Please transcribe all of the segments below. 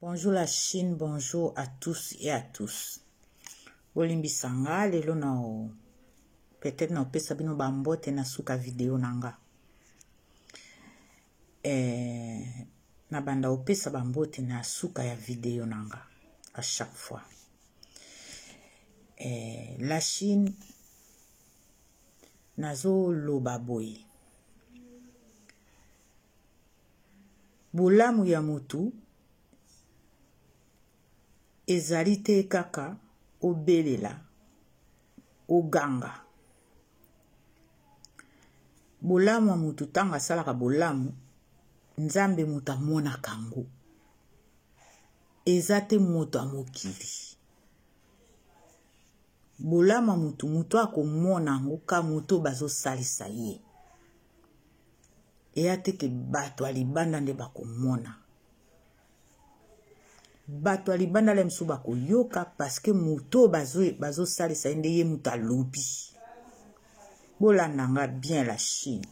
Bonjour la Chine, bonjour à tous et à tous. Bolimbisa nga lelo na peut-être na opesa bino ba mbote na suka video na nga. Eh, na banda opesa ba mbote na suka ya video na nga à chaque fois. Eh, la Chine nazo loba boye. Bolamu ya mutu ezali te kaka obelela, oganga. Bolamu ya mutu ntango asalaka bolamu, Nzambe moto amonaka yango. Eza te moto ya mokili. Bolamu ya mutu, mutu akomona yango ka moto bazosalisa ye. eya te ke bato ya libanda nde bakomona bato ya libanda la mosusu bakoyoka parceke moto oyo bazosalisa ye nde ye moto alobi bolanda nga bien la chine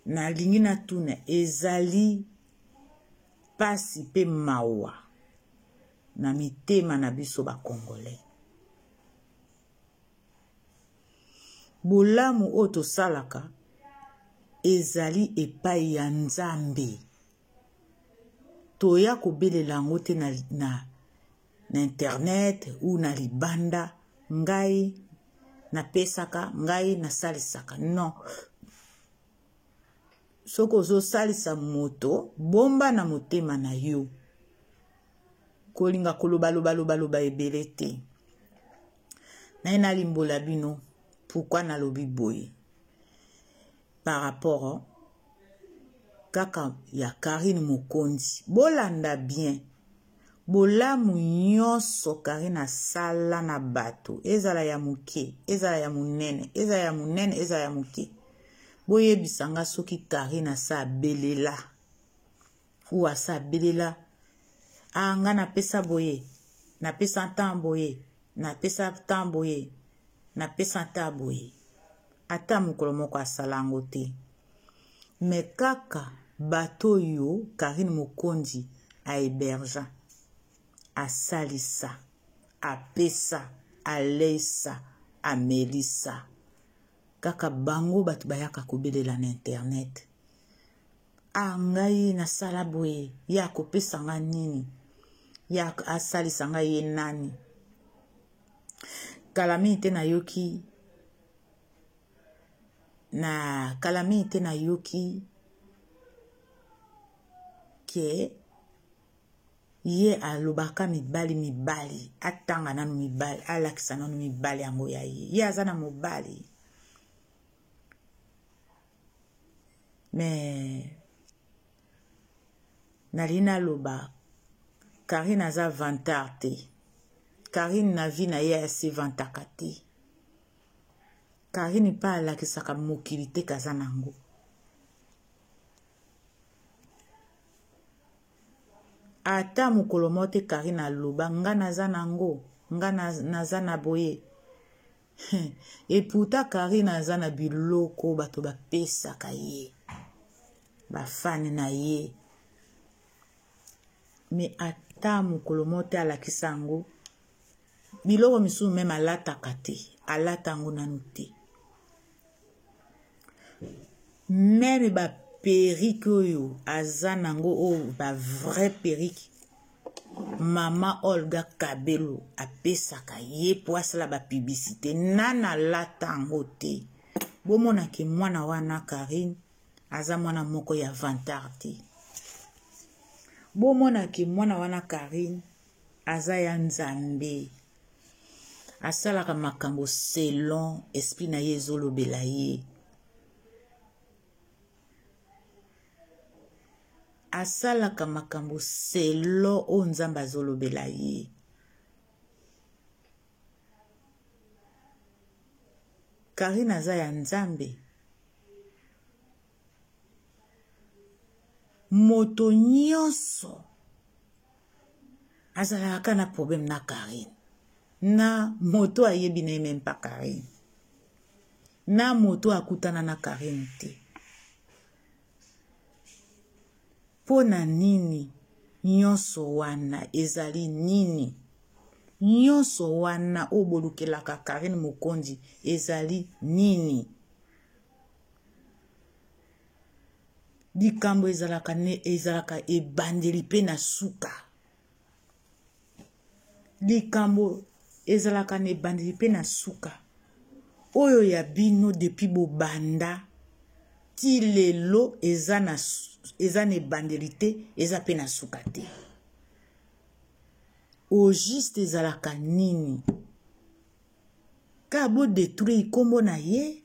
nalingi natuna ezali mpasi mpe mawa na mitema na biso bacongolais bolamu oyo tosalaka ezali epai ya nzambe toya kobelela yango te na, na, na internet ou na libanda ngai napesaka ngai nasalisaka non soki ozosalisa moto bomba na motema na yo kolinga koloba loba loba loba ebele te naye nalimbola bino pourkui nalobi boye par rapport kaka ya karine mokonzi bolanda bien bolamu nyonso karine asala na bato ezala ya moke ezala ya monene ezala ya monene ezala ya moke boyebisa nga soki karine asa abelela Kuasa belela. Ah nga napesa boye. Napesa temps boye. Napesa temps boye. Napesa temps boye. Ata mokolo moko asala yango te. Me kaka bato oyo Karine Mokonzi a hébergea. Asalisa. Apesa. Aleisa. Amelisa. Kaka bango bato bayaka kobelela na internet. ah ngai nasala boye ye akopesa nga nini ye asalisa nga ye nani kala mingi te nayoki na kala mingi te nayoki ke ye alobaka mibali mibali atanga nanu mibali alakisa nanu mibali yango ya ye ye aza na mobali mais nalingi naloba karine aza vantard te karine na vie na ye asevantaka te karine mpe alakisaka mokili te kaza na yango ata mokolo moko te karine aloba nga naza na yango nga naza na boye et pourtant Karine aza na biloko bato bapesaka ye bafane na ye me ata mokolo moko te alakisa yango biloko misusu meme alataka te alata yango nanu te meme ba perike oyo aza nango oyo ba vrai perike mama olga kabelo apesaka ye mpo asala bapiblisite nana alata yango te bomonake mwana wana karine aza mwana moko ya vantar te bomonake mwana wana karine Aza ya Nzambe. Asalaka makambo selon esprit na ye ezolobela ye. Asalaka makambo selon oyo Nzambe azolobela ye. Karine aza ya Nzambe. Moto nyonso azalaka kaka na problème na carine na moto ayebi na ye meme pa carine na moto akutana na carine te mpo na nini nyonso wana ezali nini nyonso wana oyo bolukelaka carine mokonzi ezali nini likambo ezalaka ne ezalaka ebandeli mpe na suka likambo ezalaka na ebandeli mpe na suka oyo ya bino depuis bobanda ti lelo eza na eza na ebandeli te eza mpe na suka te au juste ezalaka nini Ka bo detruire kombo na ye.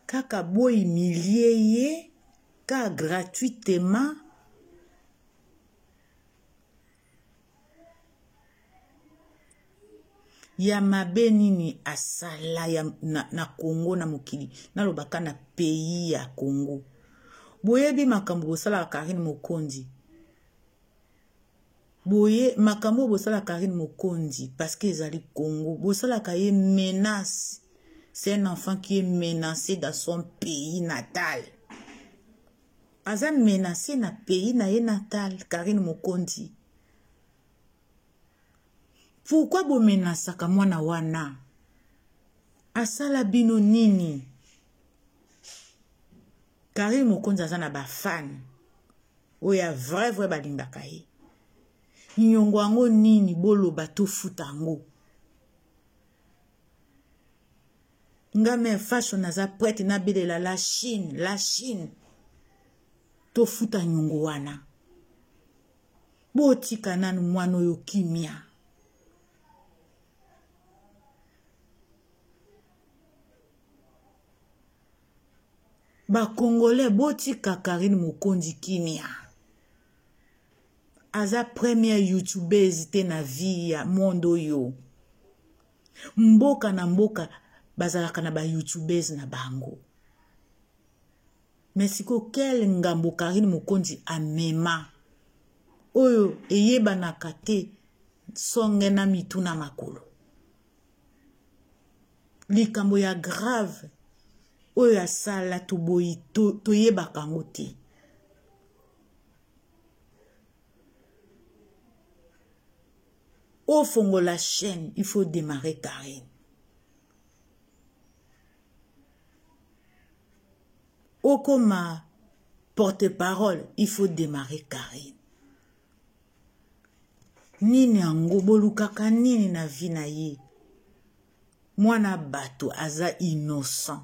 Kaka bo humilie ye ka gratuitement ya mabe nini asala ya, na, na congo na mokili nalobaka na pays ya congo boyebi makambo bosalaka karine mokonzi boye makambo oyo bosalaka karine mokonzi parce que ezali congo bosalaka ye menace c'est un enfant qui est menacé dans son pays natal Aza menace na pays na ye natal Carine Mokonzi. Pourquoi bo menasaka mwana wana? Asala bino nini? Carine Mokonzi aza na ba fan oyo ya vrai vrai balingaka ye. Nyongo yango nini boloba tofuta yango. nga me faso naza prete nabelela la chine la chine tofuta nyongo wana botika nanu mwana oyo kimia bakongolais botika karine mokonzi kimia aza première youtubeuse te na vie ya monde oyo mboka na mboka bazalaka na bayoutubese na bango me sikoyo kele ngambo karine mokonzi amema oyo eyebanaka te songe na mitu na makolo likambo ya grave oyo asala toboyi toyebaka to yango te ofongola chaîne il faut démarrer carine okoma porte-parole il faut démarrer carine nini yango bolukaka nini na vi na ye mwana bato aza innocent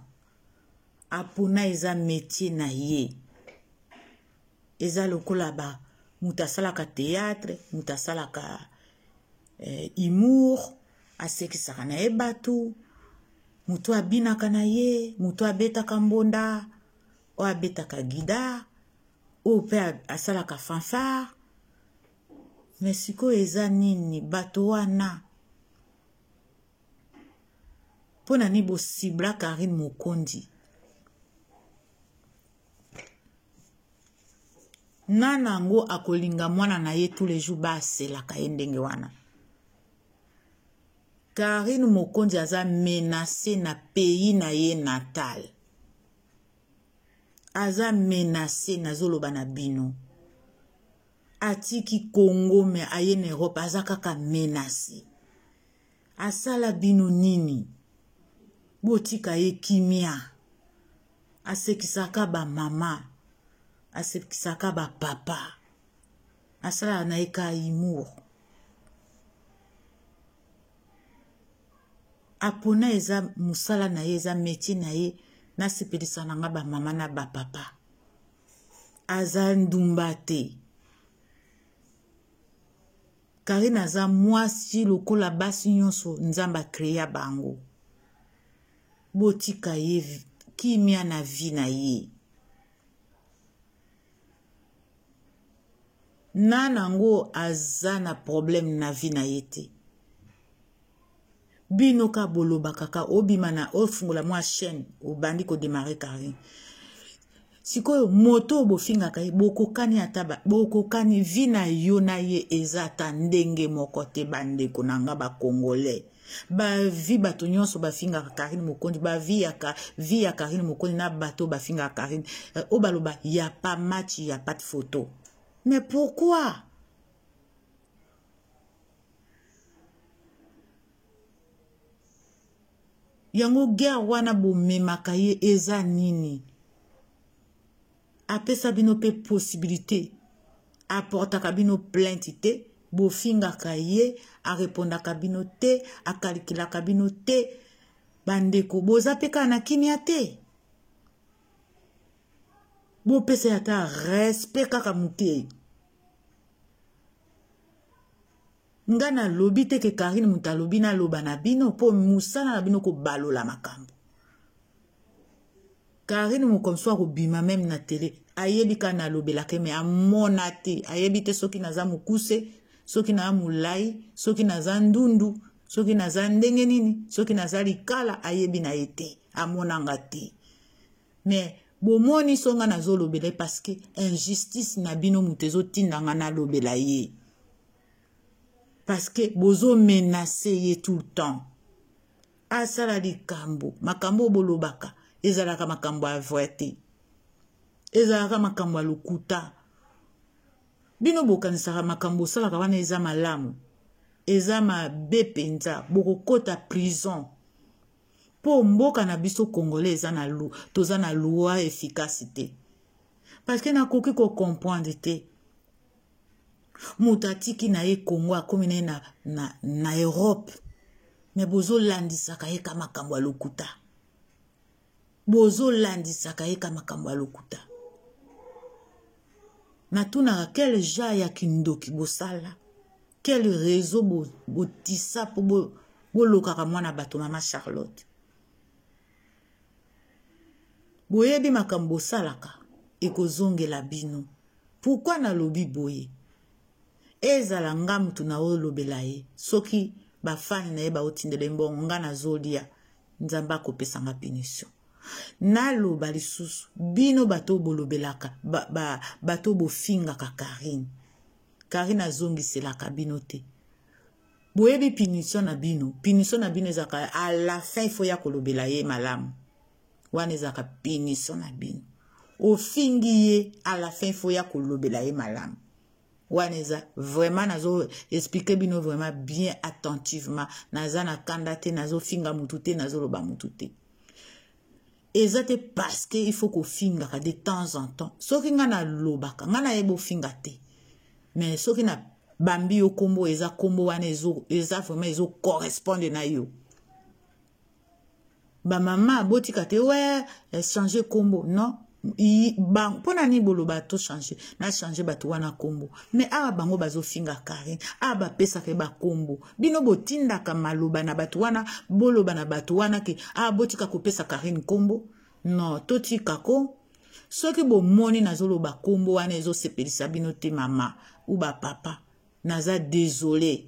apona eza metie na ye eza lokola ba moto asalaka théâtre moto asalaka eh, humour asekisaka na ye bato moto abinaka na ye moto abetaka mbonda oyo abetaka gida oyo mpe asalaka fanfare me sikoyo eza nini bato wana mpo na nini bosibla karine mokondi nana yango akolinga mwana na ye tous les jours baselaka ye ndenge wana karine mokonzi aza menase na pays na ye natal aza menase nazoloba na bino atiki congo me aye na europe aza kaka menase asala bino nini botika ye kimia asekisaka bamama asekisaka bapapa asalaka na ye ka humour apona eza mosala na ye eza metie na ye nasepelisa na nga bamama na bapapa aza ndumba te Carine aza mwasi lokola basi nyonso nzambe a crea bango botika ye kimia na vie na ye nana yango aza na problème na vie na ye te bino ka boloba kaka obima na ofungola mwa chaîne obandi ko démarrer carine sikoyo moto oyo bofingaka ye bokokani ata bokokani vi na yo na ye eza ata ndenge moko te bandeko na nga bacongolais bavi bato nyonso bafingaka karine mokonzi bavi ya vi ya karine mokonzi na bato bafingaka karine eh, oyo baloba ya pa match ya pat photo mais pourquoi yango guerre wana bomemaka ye eza nini apesa bino mpe possibilité aportaka bino plainte te bofingaka ye arepondaka bino te akalikilaka bino te bandeko boza mpe kaka na kimia te bopesa ye ata respect kaka moke nga nalobi te ke karine moto alobi naloba na bino mpo mosala na bino kobalola makambo karine mokomso akobima meme na tele ayebi ka nalobelaka me amona te ayebi te soki naza mokuse soki naza molai soki naza ndundu soki naza ndenge nini soki naza likala ayebi na ye te amonanga te mais bomoni so nga nazolobela ye parce que injustice na bino moto ezotinda nga nalobela ye parce que bozomenase ye tout le temps asala likambo makambo oyo bolobaka ezalaka makambo ya vrai te ezalaka makambo ya lokuta bino bokanisaka makambo osalaka wana eza malamu eza mabe mpenza bokokota prison mpo mboka na biso congolais eza na lu, toza na loi efficace te parce que nakoki kocomprendre te moto atiki na ye congo akomi na ye na, na, na europe me bozolandisaka ye ka makambo ya lokuta bozolandisaka ye ka makambo ya lokuta natunaka quel genre ya kindoki bosala quel réseau botisa bo mpo bolokaka bo mwana bato mama charlotte boyebi makambo bosalaka ekozongela bino pourkui nalobi boye ezala nga mutu na olobela ye soki ba fan na ye baotindela ye mbongo nga nazolia nzambe akopesa nga punition naloba lisusu bino bato bolobelaka ba, ba, bato bofingaka karine karine azongiselaka bino te boyebi punition na bino punition na bino ezalaka a la fin ifo ya kolobela ye malamu wana ezalaka punition na bino ofingi ye a la fin ifo ya kolobela ye malamu wana eza vraiment nazo explique bino vraiment bien attentivement naza na kanda te nazofinga mutu te nazoloba mutu te eza te parce que il faut kofingaka de temps en temps soki ngai nalobaka ngai nayebi ofinga te mais soki na bambi yo nkombo eza nkombo wana eza vraiment ezocorrespondre na yo ba mama botika te we eh, changer kombo non mpo na nini boloba to change na change bato wana nkombo me awa bango bazofinga karine awa bapesaka ye bankombo bino botindaka maloba na bato wana boloba na bato wana ke awa botika kopesa karine nkombo no totika ko soki bomoni nazoloba nkombo wana ezosepelisa bino te mama u bapapa naza desole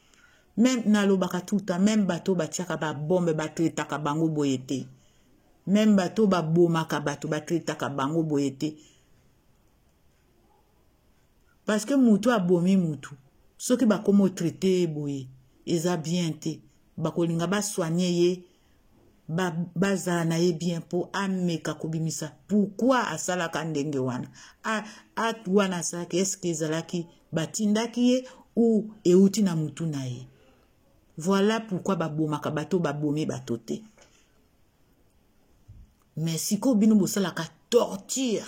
meme nalobaka tout temps meme bato batiaka babombe batretaka bango boye te meme bato babomaka bato batretaka bango boye te parce que motu abomi motu soki bakoma otraite ye boye eza bien te bakolinga basoigne ye ba, bazala na ye bien mpo ameka kobimisa pourkui asalaka ndenge wana acte wana asalaki eske ezalaki batindaki ye ou euti na motu na ye voilà pourkui babomaka bato babomi bato te me sikoyo bino bosalaka torture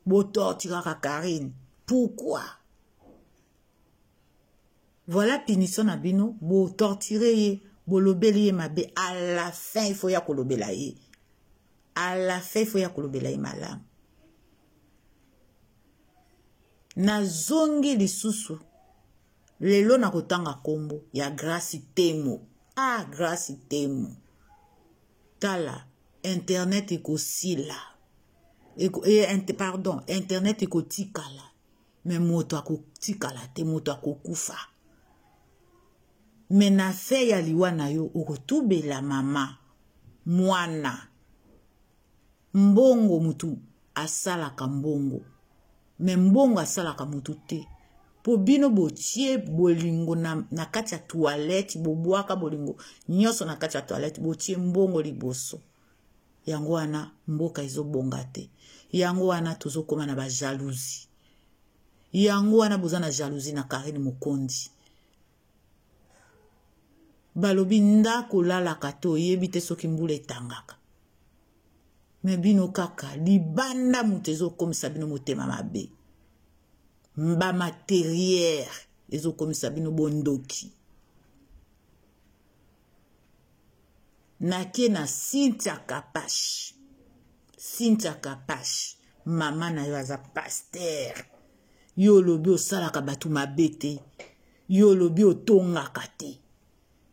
botortiraka karine pourkui voilà punition na bino bo torturer ye bolobeli ye mabe à la fin il faut ya kolobela ye à la fin il faut ya kolobela ye malamu nazongi lisusu lelo nakotanga nkombo ya grace temo ah grace temo tala internet ekosila eko, e, pardon internet ekotikala me moto akotikala te moto akokufa me na fe ya liwa na yo okotubela mama mwana mbongo motu asalaka mbongo me mbongo asalaka motu te mpo bino botie bolingo na, na kati ya toilette bobwaka bolingo nyonso na kati ya toilette botie mbongo liboso yango wana mboka ezobonga te yango wana tozokoma na bajalousie yango wana boza na jalousie na karine mokondi balobi ndako olalaka te oyebi te soki mbula etangaka me bino kaka libanda moto ezokomisa bino motema mabe mba materiere ezokomisa bino bondoki nake na cynthia kapash cynthia kapash mama na yo aza paster yo olobi osalaka bato mabe te yo olobi otongaka te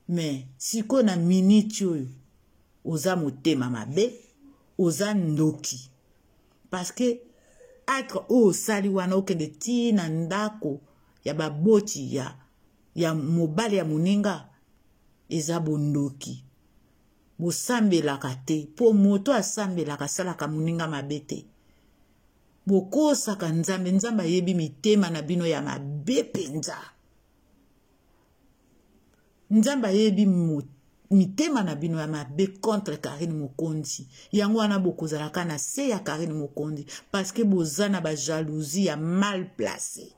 me sikoyo na miniti oyo oza motema mabe oza ndoki parceke atre oyo osali wana okende tii na ndako ya baboti ya ya mobali ya moninga eza bondoki bosambelaka te mpo moto asambelaka asalaka moninga mabe te bokosaka nzambe nzambe ayebi mitema na bino ya mabe mpenza nzambe ayebi mitema na bino ya mabe contre karine mokonzi yango wana bokozalaka na se ya karine mokonzi parceke boza na bajalousie ya mal place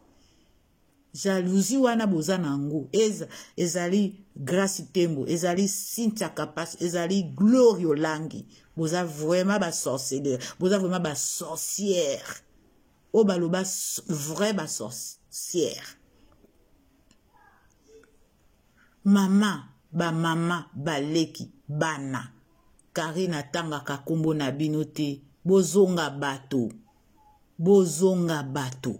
jalousie wana boza na yango eza ezali grace tembo ezali cynthia kapas ezali gloria olangi boza vraiment basorceleur boza vraiment basorcière oyo baloba vrai basorcière mama bamama baleki bana karine atangaka nkombo na bino te bozonga bato bozonga bato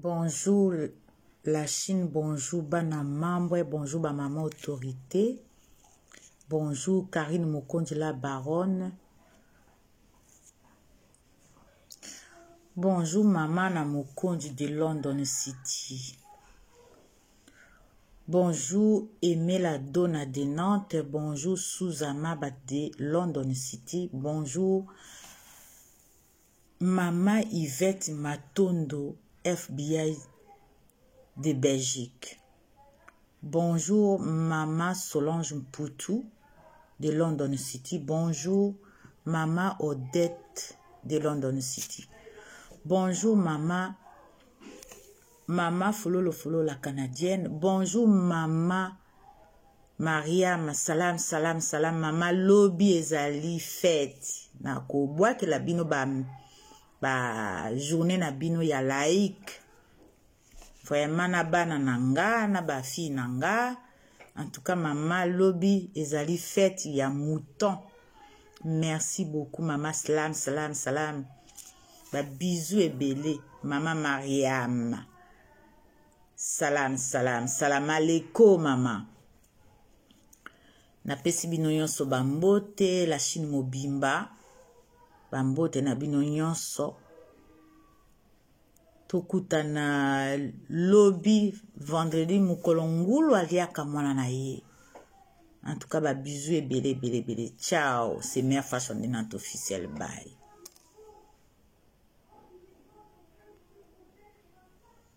Bonjour la Chine, bonjour bana mambo, bonjour ba maman autorité. Bonjour Karine Mokonji la baronne. Bonjour maman na Mokonji de London City. Bonjour Emela Dona de Nantes, bonjour Suzama de London City, bonjour Maman Yvette Matondo FBI de Belgique. Bonjour Maman Solange Mputu de London City. Bonjour Maman Odette de London City. Bonjour Maman Maman Fololo Fololo la Canadienne. Bonjour Maman mariama salam salam salam mama lobi ezali fete na kobwakela bino ba, ba journée na bino ya laïque vraiment na bana na nga na bafille na nga en tout cas mama lobi ezali fete ya mouton merci beaucoup mama salam salam salam babizu ebele mama mariama Salam salam salam aleko mama. Napesi bino nyonso bambote la Chine mobimba. Bambote na bino nyonso. tokutana lobi vendredi mokolo ngulu aliaka mwana na ye en tout cas babizu ebele ebele ebele ciao c'est mère fashion dinante officiel bye